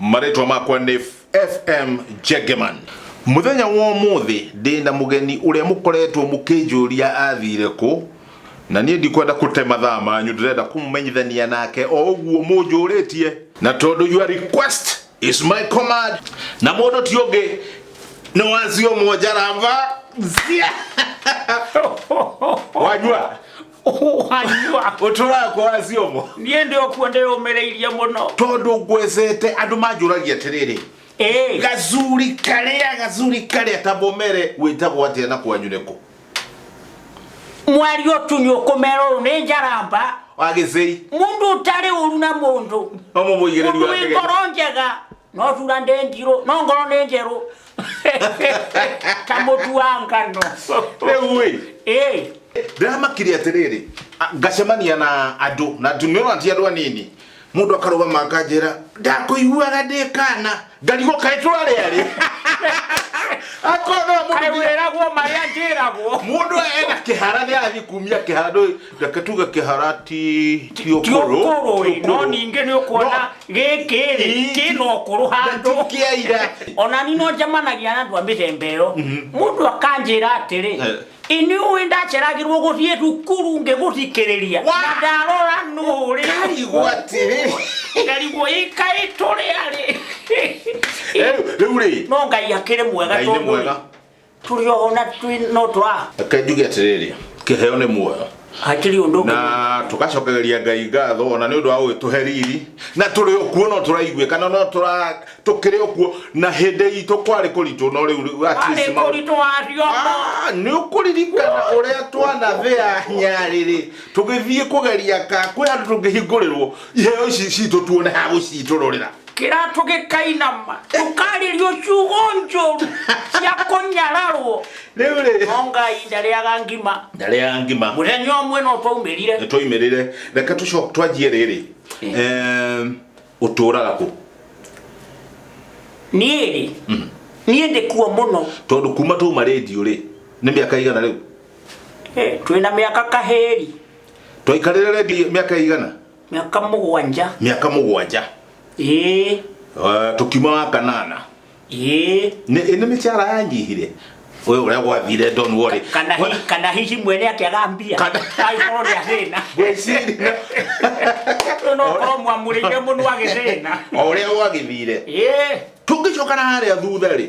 marĩtwa makwa nĩ fm jegeman mũthenya wa ũmũthĩ ndĩ na mũgeni ũrĩa mũkoretwo mũkĩnjũria athire kũ na niĩ ndikwenda kũte mathaa manyu ndĩrenda kũmũmenyithania nake o ũguo mũnjũrĩtie na tondũ your request is my command na mũndũ ti ũngĩ nĩ wazio mojarava wanyua wanyua ũtũraga kwaga ciongo niĩ ndĩ o kuo ndĩyũmĩrĩirie mũno tondũ ngwecete andũ manjũragia atĩrĩrĩ Ĩĩ. gacuri karĩa gacuri karĩa ta momere wĩtagwo atĩa na kwanyu nĩkũ mwari ũtunyu ũkũmera ũyũ nĩ njaramba wa gĩcei mũndũ ũtarĩ ũru na mũndũ no mũmũigĩrĩri mũndũ wa wĩ ndege ngoro njega no thura ndĩ ngirũ no ngoro nĩ njerũ kamutu wa ngano rĩu ĩ Eh, ndĩramakire atĩrĩrĩ a- ngacemania na andũ na ndũmĩrona ti andũ anini mũndũ akarũgama akanjĩra ndakũiguaga ndĩ kana ngarigwo kaĩ twarĩarĩ akorwo no mũndũ kaĩ wĩragwo marĩa njĩragwo mũndũ ena kĩhara nĩ arathiĩ kumia kĩhara ndũĩ reke tuge kĩhara ti ti ũkũrũ tiũkũrũ ti no ũkũrũ. ningĩ nĩ ũkuona gĩkĩ rĩ Ii. kĩna ũkũrũ handũ Na ti kĩa ira. ona ni no njamanagia na andũ a mĩthemba ĩyo mũndũ akanjĩra atĩrĩ Eh. inyuĩ ndaceragĩrwo gũthiĩ thukuru ngĩgũthikĩrĩria Wa! na ndarora nũrĩ Ngarigwo atĩrĩ. ngarigwo ikaĩ tũrĩa rĩ Rĩu- rĩu rĩ no ngai akĩrĩ mwega Ngai nĩ tondũ mwega. tũrĩ oho na twĩ no twa reke njuge atĩrĩrĩ kĩheo nĩ muoyo hatirĩ ũndũ ũngĩ na tũgacokereria ngai ngatho ona nĩ ũndũ wa gũgĩtũhe riri na tũrĩ o kuo no tũraiguĩka na no tũra- tũkĩrĩ o kuo na hĩndĩ itũ kwarĩ kũritũ no rĩu rĩu at warĩ least maũndũ- kũritũ wacio Ah, nĩ ũkũririkana ũrĩa twanathĩa nyarĩrĩ tũgĩthiĩ kũgeria ka kwĩ handũ tũngĩhingũrĩrwo iheo ici citũ tuone ha gũcitũrũrĩra kĩratũ gĩkainama tũkarĩrio ciugo njũru cia kũnyararwo rĩu rĩ no ngai ndarĩaga ngima ndarĩa ngima mũthenya ũmwe no twaumĩrire nĩ twaimĩrĩre reke tũco- twanjie rĩrĩ Em, ũtũũraga kũ niĩ rĩ niĩ ndĩ kuo mũno tondũ kuma twauma rĩndiũ rĩ nĩ mĩaka igana rĩu Eh, twĩna mĩaka kahĩri twaikarĩre rĩndiũ mĩaka igana miaka mũgwanja miaka mũgwanja ĩĩ Eh, tukiuma wa kanana ĩĩ Nĩ- ĩ nĩ mĩcara yanyihire ũyũ ũrĩa gwathire don worry kana hi- kana hihi mwene akĩaga mbia Kana- agĩkorwo nĩ athĩna Gwĩciria. Rĩu no ũkorwo mwamũrĩire mũno agĩthĩna o ũrĩa gwagĩthire ĩĩ tũngĩcoka na harĩa thutha rĩ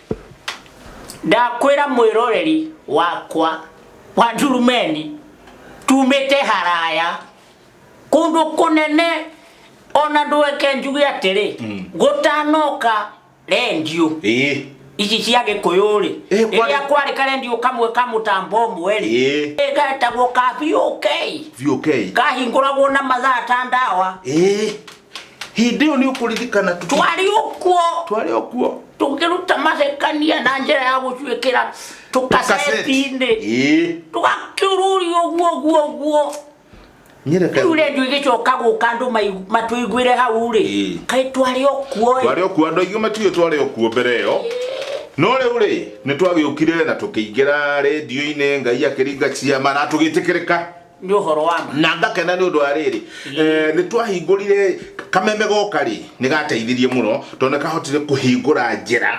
ndakwĩra mwĩroreri wakwa wa ndurumeni tumĩte haraya kũndũ kũnene ona ndweke njuge atĩrĩ mm. gũtanoka rendio ĩĩ ici cia gĩkũyũ rĩ Eh, kwa- rĩrĩa kwarĩ karendio kamwe ka mũtambo ũmwe rĩ Eh. ĩ getagwo ka VOK biũ kei kahingũragwo na mathaa ta ndawa ĩĩ hĩndĩ ĩyo nĩ ũkũririkana tũ- twarĩ ũkuo twarĩ o kuo tũkĩruta macekania na njĩra ya gũcuĩkĩra tũkaceti-inĩ Ĩĩ. tũgakĩũrũria ũguo ũguo ũguo nyereka rĩu rendio igĩcoka gũka andũ mai- matũiguĩre hau rĩ Ĩĩ. kaĩ twarĩ okuo twarĩ o kuo andũ aingĩ matiũĩ twarĩ o kuo mbere ĩyo no rĩu rĩ nĩ twagĩũkire na tũkĩingĩra redio-inĩ ngai akĩringa ciama na tũgĩtĩkĩrĩka nĩ ũhoro wa ma na ngakena nĩ ũndũ wa rĩrĩ Eh, nĩ twahingũrire kameme goka rĩ nĩ gateithirie mũno tondũ nĩ kahotire kũhingũra njĩra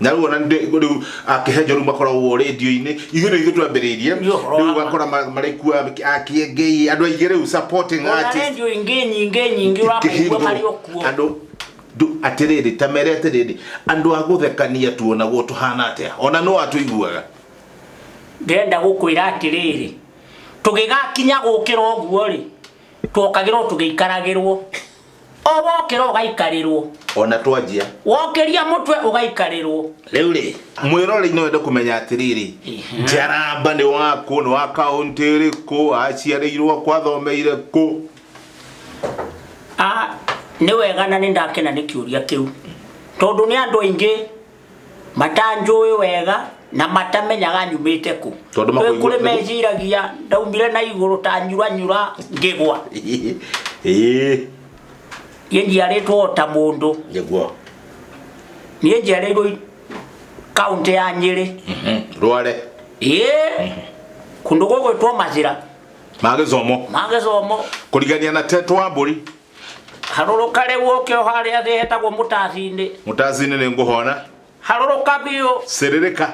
na rĩu ona ndĩ- rĩu akĩhenjo rĩu makoragwo rĩndio-inĩ ithuĩ nĩ ithuĩ twambĩrĩirie Nĩ ũhoro wa rĩu ma. ũgakora ma- marĩ kuo akĩengei andũ aingĩ rĩu supporting ona artists rendio ingĩ nyingĩ nyingĩ ũrakũigua kĩhingo marĩ o kuo andå ndå- atĩrĩrĩ ta mere atĩrĩrĩ andå a gå thekania tuonagwo tå hana atä ona no atå iguaga ndĩrenda gũkwĩra atĩrĩrĩ tũgĩgakinya gũkĩra ũguo rĩ twokagĩrwo tũgĩikaragĩrwo o wokĩra ũgaikarĩrwo ona twanjia wokĩria mũtwe ũgaikarĩrwo rĩu rĩ mwĩrorei no wende kũmenya atĩrĩrĩ njaramba nĩ wakũ nĩ wa kaũntĩ ĩrĩkũ aciarĩirwo kwathomeire kũ Ah, nĩ wega na nĩ ndakena nĩ kĩũria kĩu tondũ nĩ andũ aingĩ Matanjũĩ wega na matamenyaga nyumĩte kũ. Tondũ Kwĩ makũigua- kũrĩ meciragia ndaumire na igũrũ ta nyuranyura ngĩgwa. Ĩĩ. Niĩ njiarĩtwo o ta mũndũ. Nĩguo. Niĩ njiarĩirwo i- kaũntĩ ya Nyĩrĩ. Mhm. Rware. Ĩĩ. Kũndũ gũgwĩtwo Macĩra. Magĩcomo. Magĩcomo. Kũrigania na Tetwa Mbũri. harũrũka rĩu ũke o harĩa thĩ hetagwo mũtathi-inĩ mũtacinĩ nĩ ngũhona harũrũka biũ sĩrĩrĩka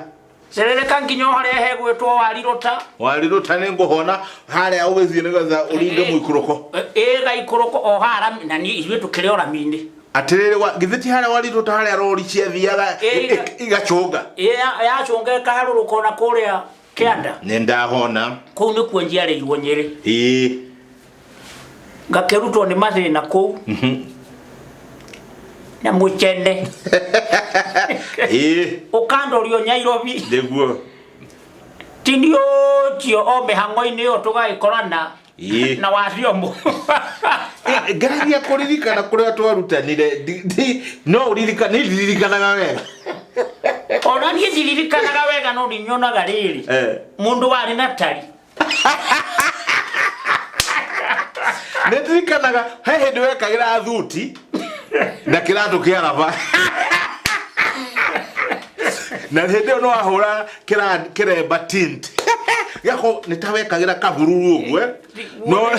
cerereka nginya o harĩa hegwĩtwo warirũta warirũta nĩ ngũhona harĩa ũgĩthiĩ nĩgetha ũringe mũikũrũko ĩga ikũrũko o hara na niĩ ithuĩ tũkĩrĩ o rami-inĩ atĩrĩrĩ wa- githĩ ti harĩa warirũta harĩa rori ciathiaga Ĩga. i- i- igacũnga Ĩ- ya- yacũnga ĩkaharũrũka o na kũrĩa kĩanda nĩ ndahona kũu nĩkuo njiarĩirwo nyĩrĩ ĩĩ ngakĩrutwo nĩ mathĩna kũu na mũcene ĩĩ ũkandorio nyairobi nĩguo tini ũcio o mĩhang'o-inĩ ĩyo tũgagĩkorana Ĩĩ. na wathiombo Eh, ngereria kũririkana kũrĩa twarutanire Ndi- ndi- no ũririkana nĩ ndiririkanaga wega ona niĩ ndiririkanaga wega no ndinyonaga rĩrĩ Eh. mũndũ warĩ na tari nĩ ndirikanaga he hĩndĩ wekagĩra thuti na kĩratũ kĩa raba na hĩndĩ ĩyo no ahũra kĩra- kĩremba tint gako nĩ ta wekagĩra kahururu ũguo eh? no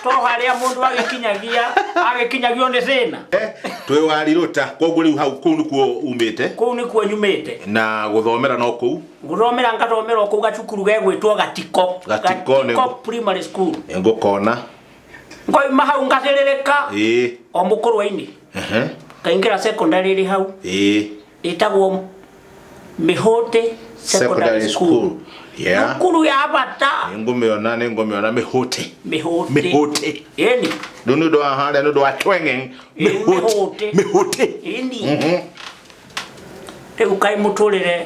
to harĩa mũndũ agĩkinyagia agĩkinyagio nĩ thĩna eh, twĩ warirũta koguo rĩu hau kũu nĩkuo umĩte kũu nĩkuo nyumĩte na gũthomera no kũu gũthomera ngathomera kũu gacukuru gegwĩtwo gatiko Gatiko nĩ- primary school ngũkona ngoima hau ngathĩrĩrĩka ĩĩ o mũkũrwa-inĩ ehe ngaingĩra secondary ĩrĩ hau ĩĩ ĩtagwo mĩhũtĩ secondary school yeah thukuru ya bata nĩngũmĩona nĩngũmĩona mĩhũtĩ mĩhũtĩ mĩhũtĩ ĩni rĩu nĩ ũndũ wa harĩa nĩ ũndũ wa twenge mĩhũtĩ mĩhũtĩ. mĩhũtĩ ĩni Mhm. rĩu kaĩ mũtũrĩre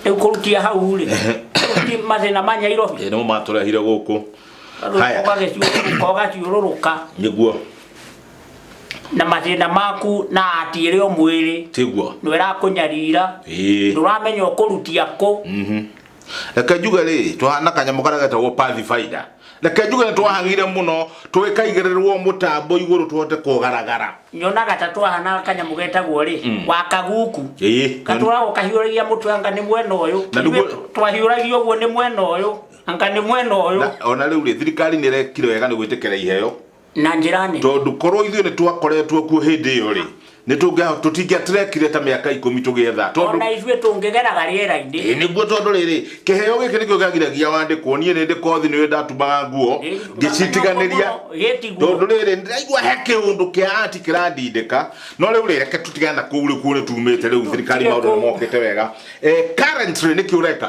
rĩu kũrutia hau rĩ rĩu ti mathĩna ma nyairobi Ĩĩ, nĩmo matũrehire gũkũ Haya. ũgagĩciũrũrũka nĩguo na mathĩna maku na atiĩre o mwĩrĩ tiguo nĩ ũrakũnyarira Ĩĩ. ndũramenya ũkũrutia kũ reke njuge rĩ tũhana kanyamũ karĩa getagwo pathfinder reke njuge nĩ twahagire mũno tũgĩkaigĩrĩrwo mũtambo igũrũ tũhote kũgaragara nyonaga ta twahana kanyamũ getagwo rĩ wakaguku Ĩĩ. katũragwo kahiũragia mũtwe anga nĩ mwena ũyũ Na nĩguo- Ithuĩ twahiũragia ũguo nĩ mwena ũyũ anga nĩ mwena ũyũ Na- ona rĩu rĩ thirikari nĩ ĩrekire wega nĩ gwĩtĩkĩra iheo na njĩra nene tondũ korwo ithuĩ nĩ twakoretwo kuo hĩndĩ ĩyo rĩ nĩ tũngĩa- tũtingĩa tũrekire ta mĩaka ikũmi tũgĩetha tondũ ona ithuĩ tũngĩgeraga rĩera-inĩ Ĩĩ, nĩguo tondũ rĩrĩ kĩheo gĩkĩ nĩkĩo gĩagiragia wandĩkwo niĩ nĩ ndĩ kothi nĩ ndatumaga nguo ngĩcitiganĩria gĩtiguo tondũ rĩrĩ ndĩraigua he kĩũndũ kĩa ati kĩrandindĩka no rĩu rĩ reke tũtigane na kũu rĩ kuo nĩ tumĩte rĩu thirikari Tutige maũndũ nĩ kũu. mokĩte wega Eh, currently nĩkĩ ũreka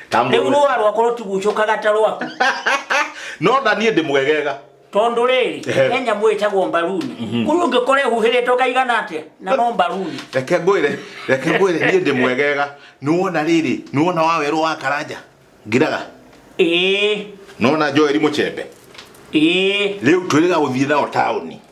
Tambũrũra. rĩu rũa rwakwa rũtigucũkaga ta rwaku no tha niĩ ndĩmwegega tondũ rĩrĩ Ehe. kenya mwĩtagwo mbaruni kũrĩ ũngĩkora ehuhĩrĩtwo kaigana atĩa na no mbaruni reke ngwĩre reke ngwĩre niĩ ndĩmwegega nĩwona rĩrĩ nĩwona wa werũ wa karanja ngiraga ĩĩ nona joeli mũchembe ĩĩ rĩu twĩrĩga gũthiĩ nao taũni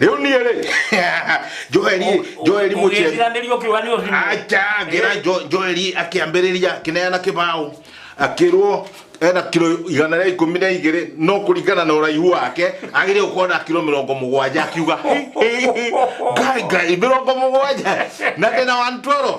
rä u niä rä joeli joeli må ciari ũgĩtiranĩria ũkiuga nĩ ũrimũ acha ngera joeli akä ambä rä ria akä neana kä baå akä rwo ena kiro igana rĩa ikũmi na igĩrĩ no kũringana na ũraihu wake agĩrĩire gũkorwo na kiro mĩrongo mũgwanja akiuga ngai ngai mĩrongo mũgwanja na ndĩna 112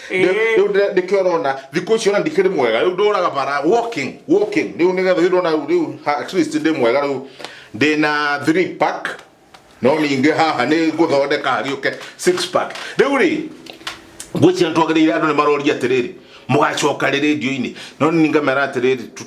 Ĩĩ. riu ndire- nikio urona thiku icio na ndikiri mwega riu nduraga bara walking walking riu nigetha riu ndona riu- riu ha- at least ndi mwega riu ndi na 3 pack no ninge haha ni nguthondeka hariuke 6 pack riu ri ngwĩciria nĩ twagĩrĩire andũ nĩ maroria atĩrĩrĩ mũgacoka rĩ rĩndio-inĩ no nĩ ngamera atĩrĩrĩ tu-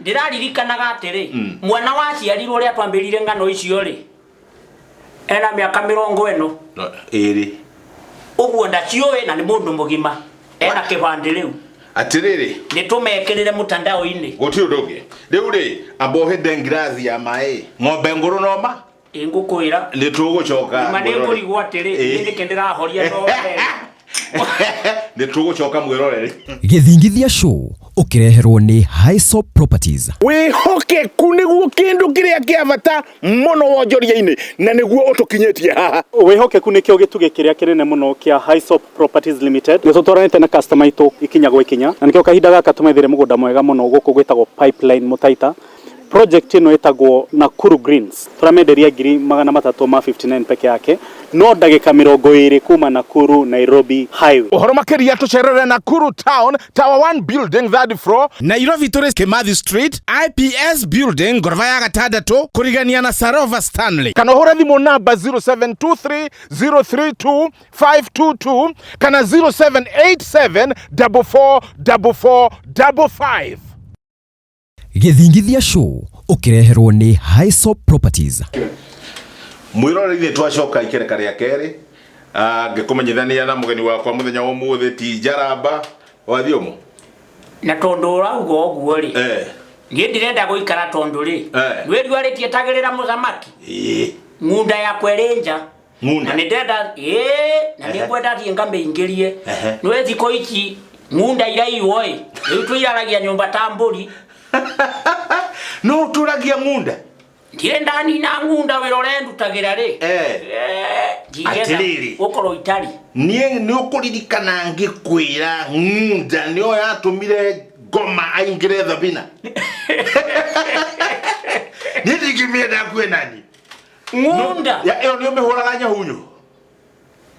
Ndĩraririkanaga atĩrĩ, mwana waciarirwo ũrĩa twambĩrire ng'ano icio-rĩ, ena mĩaka mĩrongo ĩno. No, ĩĩrĩ. Ũguo ndaciũĩ na nĩ mũndũ mũgima. Ena kĩbandĩ rĩu. Atĩrĩrĩ, Nĩtũmekĩrĩre mũtandao-inĩ. gũtirĩ ũndũ ũngĩ. Rĩu-rĩ, amba ũhe Ben ngirathi ya maĩ. Ng'ombe ngũrũ no ma? Ingũkwĩra. Nĩ tũgũcoka. Nĩ manĩ ngũrigwo atĩrĩ. Niĩ nĩkĩ ndĩrahoria no wee. Nĩ tũgũcoka mwĩrorere. Gĩthingithia Show ũkĩreherwo nĩ Haiso Properties. Wĩhokeku nĩguo kĩndũ kĩrĩa kĩa bata mũno wonjoria-inĩ na nĩguo ũtũkinyĩtie haha. Wĩhokeku nĩkĩo gĩtugĩ kĩrĩa kĩnene mũno kĩa Haiso Properties Limited. Nĩ tũtwaranĩte na customer aitũ ikinya gwa ikinya na nĩkĩo kahinda gaka tũmethire mũgũnda mwega mũno gũkũ gwĩtagwo Pipeline Mũtaita Project ĩno ĩtagwo Nakuru Greens, tũramenderia ngiri magana matatũ ma 59 peke yake, no ndagĩka mĩrongo ĩrĩ kuma Nakuru Nairobi highway. Ũhoro makĩria tũcerere Nakuru Town, Tower One Building, third floor. Nairobi tũrĩ Kimathi Street, IPS Building, ngoroba ya gatandatũ, kũrigania na Sarova Stanley. Kana ũhũre thimũ namba 0723032522 kana 0787444455. Gĩthingithia Show ũkĩreherwo nĩ Haiso Properties. mwĩroreri twacoka ikereka rĩa kerĩ Ah, ngĩkũmenyithania na mũgeni wakwa mũthenya wa ũmũthĩ ti njaramba wathiũmũ na tondå å rauga å guo rä Eh. niä ndirenda gå ikara tondå rä Eh. nä riuarä tie tagä rä ra må thamaki ng'unda yakwa ä rä nja Ng'unda. na nindenda ĩĩ na Ehe. nĩngwenda thiĩ ngamĩingĩrie Ehe. nĩ thikũ ici ng'unda iraiwo ĩ rĩu tũiraragia nyũmba ta mbũri no ũtũragia ng'unda ndirĩ ndanina ng'unda wĩra ũrendutagĩra rĩ Eh. Eh, ndingĩenda Atĩrĩrĩ. gũkorwo itari niĩ nĩ ũkũririkana ngĩkwĩra ng'unda nĩyo yatũmire ngoma aingĩre thabina niĩ ndingĩmĩenda kuenani ng'unda Ya- ĩyo nĩ ũmĩhũraga nyahunyu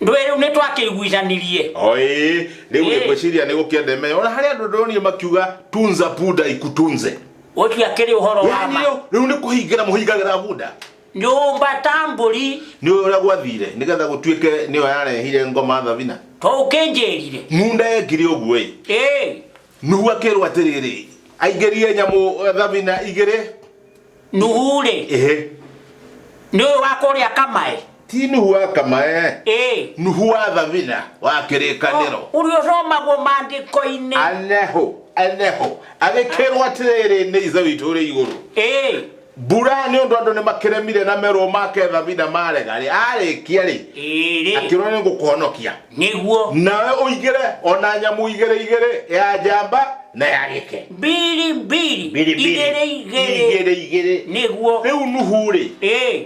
ndwĩ rĩu nĩ twakĩiguithanirie oĩ rĩu Ĩĩ. ngwĩciria nĩ gũkĩendeme ona harĩa andũ ndĩronire makiuga tunza buda ikutunze ũcio akĩrĩ ũhoro wa yani ma rĩu rĩu nĩ kũhingĩra mũhingagĩra buda nyũmba ta mbũri nĩ ũyũ ũrĩa gwathire nĩgetha gũtuĩke nĩyo yarehire ngoma thabina to ũkĩnjĩrire ng'unda yekire ũguo ĩ ĩĩ nuhu akĩrwo atĩrĩrĩ aingĩrie nyamũ eh, thabina igĩrĩ nuhu rĩ ĩhĩ nĩ ũyũ wa kũrĩa kamae ti nuhu wa kamae ĩĩ nuhu wa thabina wa kĩrĩkanĩro ũrĩa ũthomagwo maandĩko-inĩ aneho aneho agĩkĩrwo atĩrĩrĩ nĩ ithe witũ ũrĩ igũrũ ĩĩ mbura nĩ ũndũ andũ nĩ makĩremire na merwo make thabina marega rĩ arĩkia rĩ ĩĩ rĩ akĩrwo nĩ ngũkũhonokia nĩguo nawe ũigĩre o na nyamũ igĩrĩ igĩrĩ ya njamba na ya gĩke mbiri mbiri Mbiri, mbiri. igĩrĩ igĩrĩ igĩrĩ igĩrĩ nĩguo rĩu nuhu rĩ ĩĩ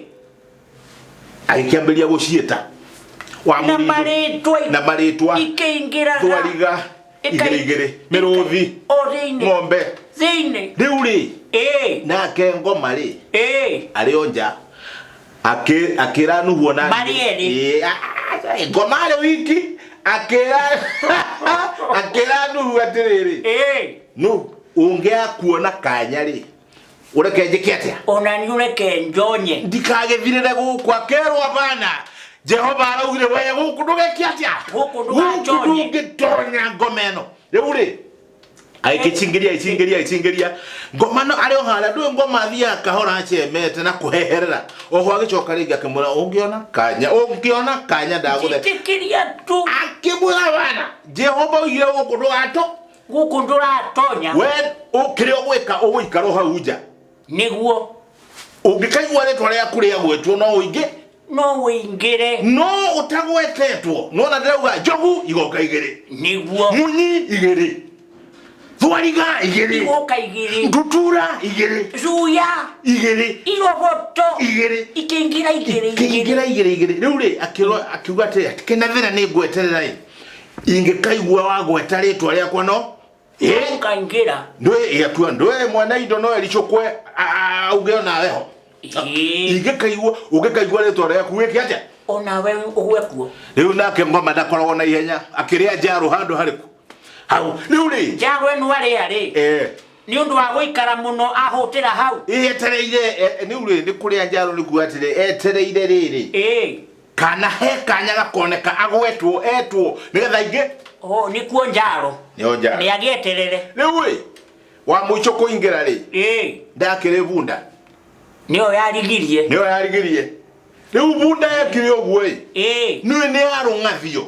agĩkĩambĩrĩria gũciĩta wa na mũrindũ marĩtwa na marĩtwa ikĩingĩraga thwariga igĩrĩ igĩrĩ mĩrũthi o thĩinĩ ng'ombe thĩinĩ rĩu rĩ ĩĩ nake ngoma rĩ ĩĩ arĩ o nja Akĩ- akĩra nuhuo na Marĩ erĩ. Ĩĩ, a- a- a- ngoma arĩ wiki akĩra akĩra nuhu atĩrĩrĩ ĩĩ nu ũngĩakuona kanya rĩ ureke njĩke atĩa ona nĩ ũreke njonye ndikagĩthirĩre gũkũ akerwo abana jehova araugire we gũkũ ndũgeke atĩa Gũkũ ndũgatonye. ndũngĩtonya ngoma ĩno rĩu rĩ aigĩcingĩria icingĩria icingĩria ngoma no arĩ o harĩa ndũĩ ngoma athiaga kahora acemete na kũheherera oho agĩcoka rĩngĩ akĩmwĩra ũngĩona kanya ũngĩona kanya ndagũthe njĩtĩkĩria tu akĩmwĩra bana jehova oigire gũkũ ndũgatũ gũkũ ndũratonya we ũkĩrĩ ũgwĩka ũgũikara o hau nja nĩguo ũngĩkaigua rĩtwa rĩaku rĩagwetwo no ũingĩ no wĩingĩre no ũtagwetetwo nona ndĩrauga njogu igoka igĩrĩ nĩguo munyi igĩrĩ thwariga igĩrĩ igoka igĩrĩ ndutura igĩrĩ cuya igĩrĩ iroboto igĩrĩ ikĩingĩra igĩrĩ igĩrĩ kĩingĩra igĩrĩ igĩrĩ rĩu rĩ akĩrwo- akiuga atĩrĩ atĩ kĩna thĩna nĩ ngweterera ĩ ingĩkaigua wagweta rĩtwa rĩakwa no Ĩ, ũkaingĩra ndwĩ yatua ndwĩ mwene indo no ericũkwe auge ona weho Ĩ, ingĩkaigua ũngĩkaigua rĩtwa rĩaku wĩke atĩa ona we ũgwe kuo rĩu nake ngoma ndakoragwo na ihenya akĩrĩa njarũ handũ harĩku hau rĩu rĩ njaro ĩno arĩa rĩ eh, nĩ ũndũ wa gũikara mũno ahũtĩra hau ĩĩ etereire eh, rĩu rĩ nĩ kũrĩa njarũ nĩkuo atĩrĩ etereire rĩrĩ ĩĩ kana he kanya gakoneka agwetwo etwo nigetha ingi o nikuo njaro nio njaro ni agieterere riu ri wa muico kuingira ri eh ndakiri bunda nio yarigirie nio yarigirie riu bunda yekire uguo ri eh ni ni arungathio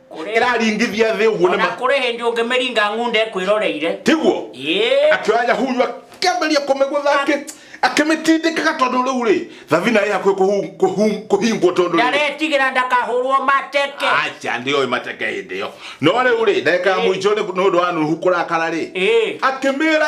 Kũrĩ- ĩraringithia thĩ ũguo na ona ma- kũrĩ hĩndĩ ũngĩmĩringa ng'unda ĩkwĩroreire tiguo Ĩĩ. akĩoya nyahuyu akĩambĩrĩria kũmĩgũtha akĩ- akĩmĩtindĩkaga tondũ rĩu rĩ thabina ĩ hakuhĩ kũhu- kũhu- kũhingwo tondũ rĩu- ndaretigĩra ndakahũrwo mateke aca ndĩoĩ mateke hĩndĩ ĩyo no rĩu rĩ ndagĩka ya Ĩĩ. mũico nĩ nĩ ũndũ wa nuhu kũrakara rĩ Ĩĩ. akĩmĩra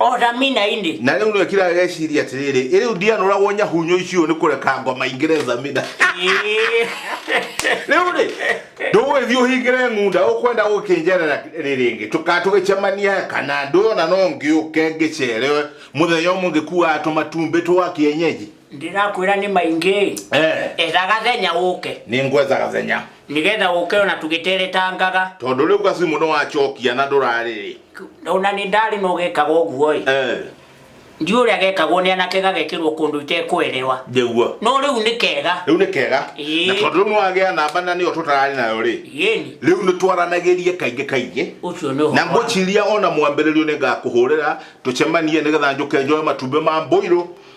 othaminainĩ na rĩu nĩwe kira ageciria atĩrĩrĩ ĩ rĩu ndianũragwo nyahunyo icio nĩ kũreka ngoma ingĩre zamina rĩu rĩ ndũgũgĩthiĩ ũhingĩre ng'unda ũkwenda gũkĩnjerera rĩ rĩngĩ tũka tũgĩcemania kana ndũyona no ngĩũke ngĩcerewe mũthenya ũmwe ngĩkuaga tũmatumbĩ twa kĩenyeji ndĩrakwĩra nĩ maingĩ Eh. etha gathenya ũke nĩ ngwetha gathenya nĩgetha ũke ona tũgĩteretangaga tondũ rĩu gacimu nĩ wacokia na ndũrarĩrĩ ona nĩ ndarĩ no gekaga ũguo-ĩ Eh, ndiũ ũrĩa gekagwo nĩ anake gagekĩrwo kũndũ itekwerewa njĩguo no rĩu nĩ kega rĩu nĩ kega Ĩĩ. na tondũ rĩu nĩ wagĩa namba na nĩyo tũtararĩ nayo rĩ yeni rĩu nĩ twaranagĩrie kaingĩ kaingĩ ũcio nĩ na ũhoro wa- ngũciria ona mwambĩrĩrio nĩ ngakũhũrĩra tũcemanie nĩgetha njũke njoe matumbĩ ma mbũirũ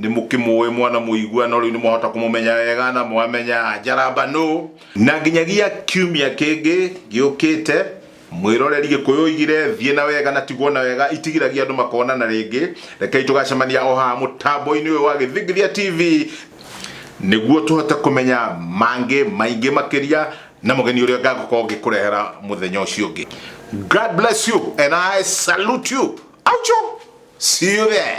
Nĩmũkĩmũĩ mwanamũigua no rĩu nĩmwahota kũmũmenya wega na mwamenya Njaramba nũ. Na nginyagia kiumia kĩngĩ gĩũkĩte, Mwĩroreri Gĩkũyũ oigire, Thiĩ na wega na tigwo na wega itigiragia andũ makonana rĩngĩ. Rekei tũgacemania o haha mũtambo-inĩ ũyũ wa Gĩthingithia TV nĩguo tũhote kũmenya mangĩ maingĩ makĩria na mũgeni ũrĩa ngagũkorwo ngĩkũrehera mũthenya ũcio ũngĩ. God bless you and I salute you. Aucho! See you there.